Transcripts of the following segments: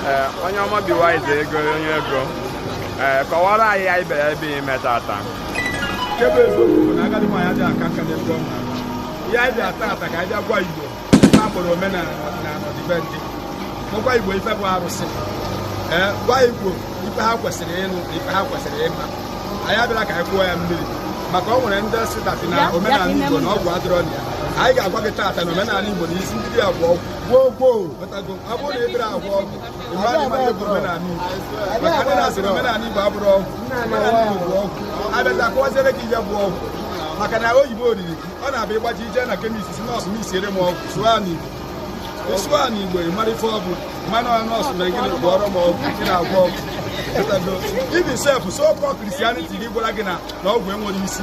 ee onye ọma be wise ego onye ego ee kọwara anyị anyị bịara ebe ime taata nke bụ eziokwu bụ na agadi nwaanyị adịghị aka nka n'ebe ọ nọ. ihe anyị bịa taata ka anyị bịa gwa igbo ife a kpọrọ omenala na ọdịbendị gwakwa igbo ife bụ arụsị ee gwa igbo ife ha kwesịrị ịnụ na ife ha kwesịrị ịma anyị abịara ka anyị kwụọ ya mmiri maka ọ nwere ndị sị that na omenala igbo na ọgwụ adịrọ na ya anyị ga-agwa gị taata na omenala igbo na isi ndị ya bụ ọgwụ maka na oyibo oriri ọ na-abịa ịgbaji ije na chemist sị nurse mixiere m ọgwụ sụọ n'igbo ị sụọ n'igbo ị mara ife ọ bụ mana nurse na gịnị gwọọrọ m ọgwụ gị na-agwọ ọgwụ even self so called christianity gị gwara gị na ọgwụ enwere isi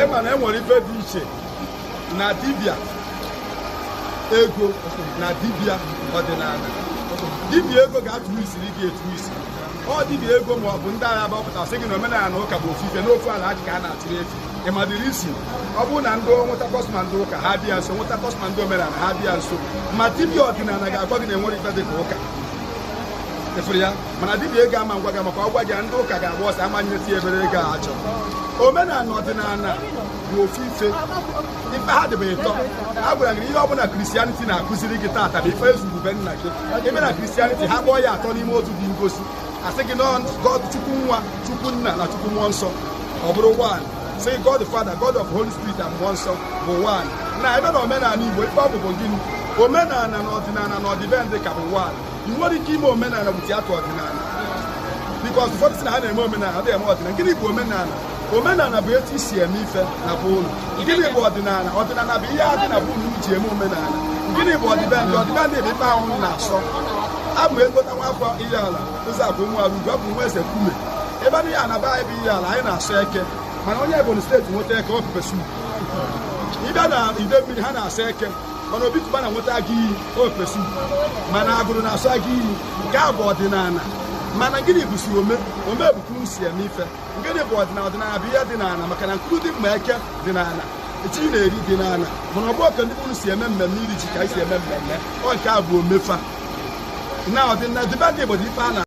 ị ma na e nwere ife dị iche na dibịa ego na dibịa ọdịnala dibịa ego ga-atụ isiri gị etu isi ọ dibịa ego ma ọ bụ ndị agha gbapụta sị gị na omenala ụka bụ ofu ife n'ofu ala ajị ka a na-atụrụ efi ị ma the reason ọ bụrụ na ndị nweta customer ndị ụka ha bịa nso nweta customer ndị omenala ha bịa nso ma dibịa ọdịnala ga-agwa gị na e nwere ife dị na ụka ị fụrụ ya mana dibia ego ama ngwa gị maka ọ gwa gị ndị ụka ga-agba ọsọ ama nyeti ebere ego a chọrọ omenala ọdịnala bụ ofu ife ife ha dị ibe ịtọ a gwara gị ihe ọbụla christianity na-akụziri gị taata bụ ife e zuru be nna gị ị bịa na christianity ha kpọọ ya atọ n'ime otu dị ngọzi a sị gị na ọ chukwu nwa chukwu nna na chukwu mmụọ nsọ ọ bụrụ one sị god father god of holy spirit and mmụọ nsọ bụ one na ị bịa na omenala igbo ife ọ bụ bụ gịnị omenala na ọdịnala na ọdịbendị ka bụ one ị nwere ike ime omenala without ọdịnala because ụfọdụ sị na ha na-eme omenala adịghị eme ọdịnala gịnị bụ omenala omenala bụ etu e si eme ife na be unu gịnị bụ ọdịnala ọdịnala bụ ihe dị na be unu ji eme omenala gịnị bụ ọdịbendị ọdịbendị bụ ife ahụ unu na-asọ abụ egota nwa afọ Ihiala ụzọ abụ nwa arugo abụ nwa eze kume ị bịa na Ihiala be anyị bụ Ihiala anyị na-asọ eke mana onye Ebonyi state nweta eke ọ pepper soup ị bịa na Idemili ha na-asọ eke mana Obi Cubana nweta agụ iyi ọ pepper soup mana Agulu na-asọ agụ iyi nke a bụ ọdịnala mana gịnị bụzi ome ome bụ ka unu si eme ife gịnị bụ ọdịnala ọdịnala bụ ihe dị n'ala maka na nkuru dị mma eke dị n'ala ji ị na-eri dị n'ala mana ọ bụrọ ka ndị nke unu si eme mmemme iri ji ka anyị si eme mmemme ọ nke a bụ ome fa na ọdịnala ọdịbendị Igbo dị ife a na